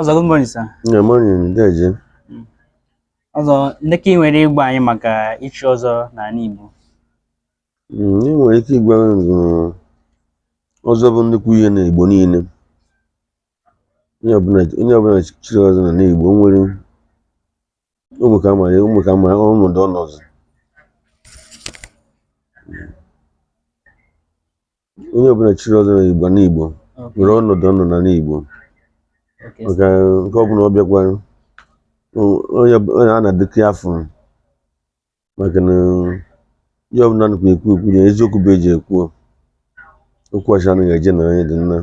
Ọzọ good morning sir. Good morning, deje. Hmm. Ọzọ ndị ka ị nwere ịgwa anyị maka ichi ọzọ n'ala Igbo? Hmm, ị nwere ike ịgwa ọzọ bụ nnukwu ihe na Igbo niile. Onye ọbụla chiri ọzọ na Igbo nwere ụmụ ka ma ya ụmụ ka ma ọnọdụ ọnọdụ. onye ọbụla chiri ọzọ na igbo na igbo Okay. nwere ọnọdụ ọ nọ na n'igbo Okay, sir. maka nke ọbụla ọ bịakwa o- onye bụ- onye a na-adịkị afọ maka na ihe ọbụla nụkwa ekwu ekwu na eziokwu bụ e ji ekwu okwu ashị anaghị eje na onye dị na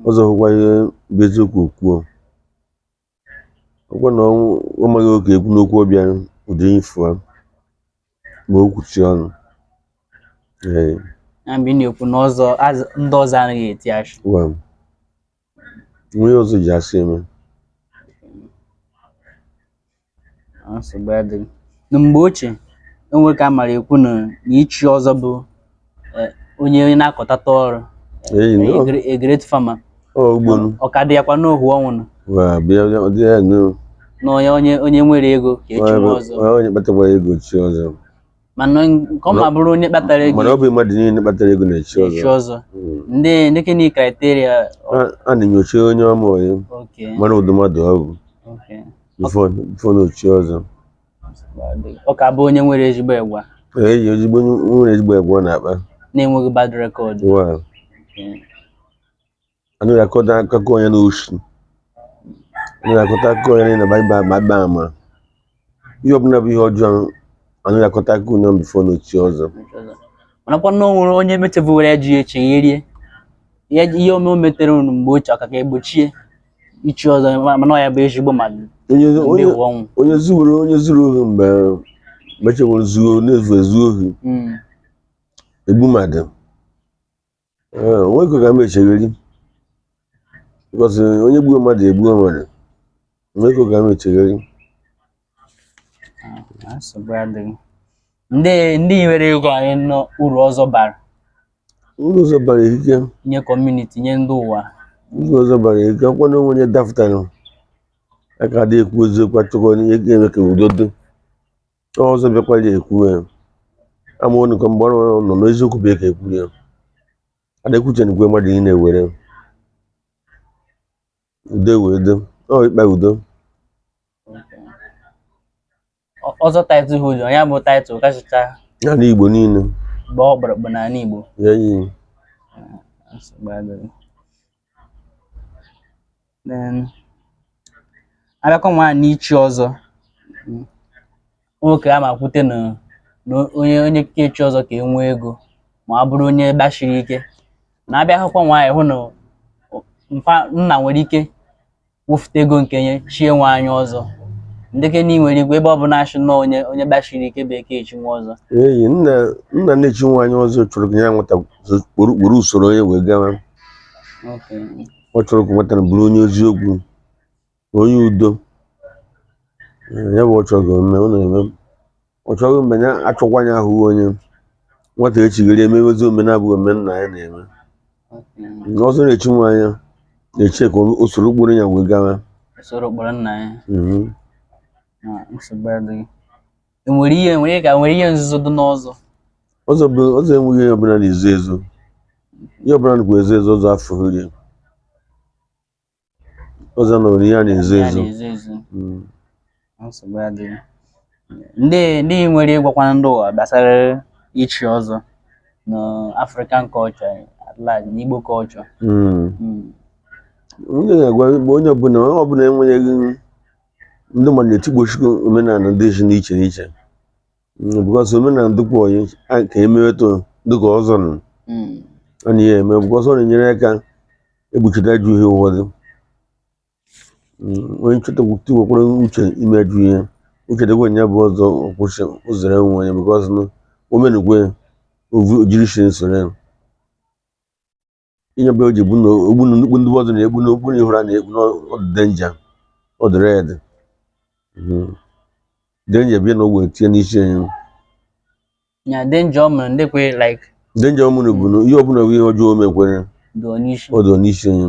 ọzọ hụkwa ihe bụ eziokwu o kwuo ọ kwa na ọ maghị ọ ga-ekwu n'okwu ọ bịa ụdị ifu a ma o kwuchi ọnụ ee na mgbe ị na-ekwu na ọzọ az- ndị ọzọ anaghị eti ashị wa o nweghị ihe ọzọ ji asị eme nsogbu adịghị na mgbe ochie o nwe ka a mara ekwu na na ichi ọzọ bụ eh, onye na-akọtata ọrụ Hey, a no. gre- a great farmer ugbonu ọ ka dị ya kwa n'ohu ọnwụ nọ Wa bịa bịa ọ dị ya no. na onye onye onye nwere ego ga-echinwu ọzọ Wa onye kpatara ego echie ọzọ. mana nke ọ ma bụrụ onye kpatara ego Mana ọ bụ mmadụ niile kpatara ego na-echi echi ọzọ. ọzọ Mm. ndị ndị ka ni criteria A- A na-enyocha onye a ma onye okay mara ụdị mmadụ ọ bụ okay before before na o chie ọzọ. ọ ka bụ onye nwere ezigbo egwa eji ezigbo nwere ezigbo egwa ọ na-akpa na-enweghị bad record anụ akọta akụkọ onye n'oshi anụ akọta akụkọ onye na baiba ma agba ama ihe ọbụla bụ ihe ọjọọ anụ akọta akụkọ onye before na o chie ọzọ manakwa na o nwere onye metebuwere ya ji ya echegherie ihe o me o metere nụ mgbe ochie ọ ka ga-egbochie ichi ọzọ ma- mana ọ ya bụ ezigbo mmadụ onye onye ụwa ọnwụ onye zuwere onye zuru ohi mgbe mechewere zuo na-ezu ezu ohi Mm. egbu mmadụ Ee, o nwe ka ọ ga-eme chegheri because onye gbuo mmadụ egbuo mmadụ o nwe ka ọ ga-eme chegheri nsogbu adịghị ndị ị nwere ịgwa anyị n'uru ọzọ bara uru ọzọ bara ike nye community nye ndị ụwa uru ọzọ bara ike ọ kwa na o nwe onye dapụtara a ka dị ekwu eziokwu a chọkọ ihe ga-eme ka udo dị ọzọ bịakwara ekwu ya ama ụnụ ka mgbe ọ nọ n'eziokwu bụ ka ekwu ya a na-ekwucha nnukwu mmadụ ị na-ewere udo wee do ọ ikpe udo ọzọ title ahụ nya bụ title kachacha ya na igbo niile bụ ọkpụrụkpụ n'ala igbo ya yi abịakwa nwa n'ichi ọzọ nwoke a ma kwute na na onye onye ka-echi ọzọ ka-enwe ego ma ọ bụrụ onye gbashiri ike na abịa hụkwa nwaanyị hụ na mpa nna nwere ike wefụta ego nke nya chie nwa nya ọzọ ndeke na nwere igwe ebe ọ bụla a shị na onye onye gbashiri ike bụ eke echi nwa ọzọ eyi nna nna na-echi nwa nya ọzọ chọrọ ka ya nwata were were usoro ya wee gawa Okay. ọ chọrọ ka nwata a bụrụ onye eziokwu onye udo ya bụ ọ chọghị mme ọ na-eme ọ chọghị mgbe ya achọkwa ya ahụ onye nwata echigharị emewezi ome na-abụghị ome nna ya na-eme ọzọ na-echi nwa nya na-achọ ka o soro okporo ya wee gawa soro okporo nna ya mhm. nsogbu adịghị enwere ihe enwere ka nwere ihe nzuzo dị n'ọzọ ọzọ bụ ọzọ enweghị ihe ọbụla na-ezo ezo ihe ọbụla nakwa ezo ezo ọzọ afọ rie ọzọ na ori ya na-ezo ya ezo na-ezo ezo Mm. nsogbu adịghị ndị ihe i nwere ịgwakwanụ ndị ụwa gbasara ichi ọzọ na African culture at large na Igbo culture Mm. Mm. ihe m ga-agwa bụ onye ọbụla onye ọbụla enwenyeghị ndị mmadụ na-etigbochukwu omenala dị iche n'iche n'iche Mm, because omenala dịkwa onye a ka emeweto dịka ọzọ nọ Mm. ọ na ya eme because ọ na-enyere aka egbochite ajọ ihe ụfọdụ Mm, onye nchọta tiwekwara uche ime ajọ ihe o chetakwa ya bụ ọzọ ọ kwụsị ụzọrọ enwe onye because na omenukwe ovu ojiri shi nsoro ya ihe bụ o ji gbunu ogbunu nnukwu ndị ọzọ na-ekpu n'okpu na ị hụrụ a na-ekpu na ọ dụ danger ọ dụ red danger bịa na ogbe tinye n'isi nya danger ọ mere ndị kwe like danger ọmụrụ bụ na ihe ọbụla bụ ihe ọjọọ o mekwere dị onye isi ọ dị n'isi nya